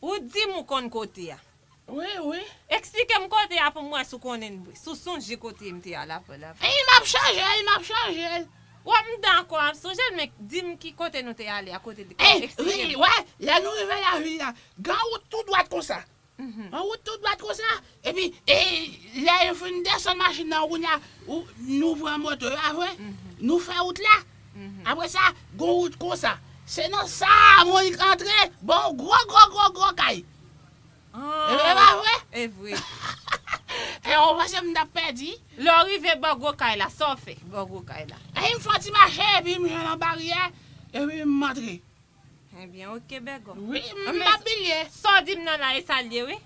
Ou dim ou konn kote a. Wi wi. Eksplikem kote a pou m wè si w konnen si w sonje kote m te al apre l avan. Eyy map chaje l map chaje l. Wap m dakò map sonje l men dim ki kote nou te ale a kote l te eksplike m. Eyy wi wè lè nou rive la vil la gen yon wout tou dwat konsa yon wout tou dwat konsa epi lè yo fin desann machin nan kounya nou pran moto a vre nou fè wout la. Apre sa, gen yon wout konsa. Se nan sa a Monik antre ban yon gwo gwo gwo gwo kay. E vre pa vre? E vre. E ou panse m t ap pèdi? Lè w rive ban gwo kay la, sa w fè ban gwo kay la? Epi m fè yon ti mache epi m jwenn yon baryè epi m antre. Ebyen ok bègòm. Wi m pa bilye. Sa w di m nan la e sa l ye wi.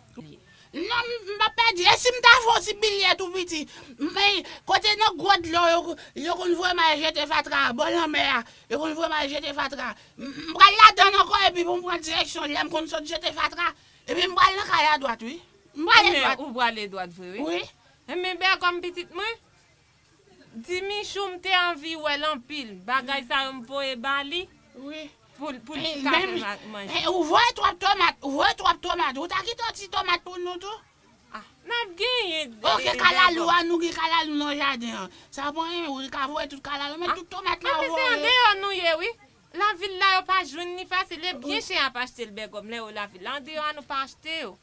Non m pa pèdi. E si m ta fon ti bilye tou piti. Kote nan gwo dlo yo konn voye m al jete fatra a, bò lanmè a, yo konn voye m al jete fatra a. M pral ladan l ankò epi pou m pran direksyon lè m konn sot jete fatra. Epi m pral nan kay la dwat wi. M prale dwat. Ou prale dwat vre wi. Wi. Ebyen bègòm pitit mwen. Ti michou m te anvi wèl anpil bagay sa yo m voye ba li pou li ka fè manje. Ou voye twòp tomat ou voye twòp tomat ou ta kite yon ti tomat pou nou tou. Nap genyen degò. Ok kalalou an nou gen kalalou nan jaden an sa mwen renmen wi ka voye tout kalalou men tout tomat la ou voye. Anmweyy se andeyò nou ye wi lavil la yo pa jwenn li fasil e byen chè yap achte l bègòm lè yo lavil la andeyò a nou pa achte yo.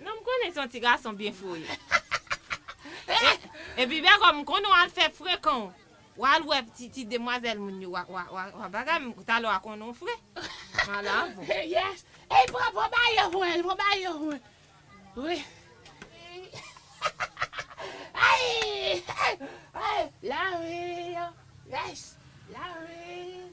Non m konnen se yon ti gason byen fou w ye. E epi Bègòm m konnen w al fè frekan w. W al wè ti ti demwazèl moun yo wa bagay m talè wa konnen w fre. M al avè w. Yes Ey pran pran mayo mwen an pran mayo an mwen wi Ayy Ayy Lavi an Yes Lavi an.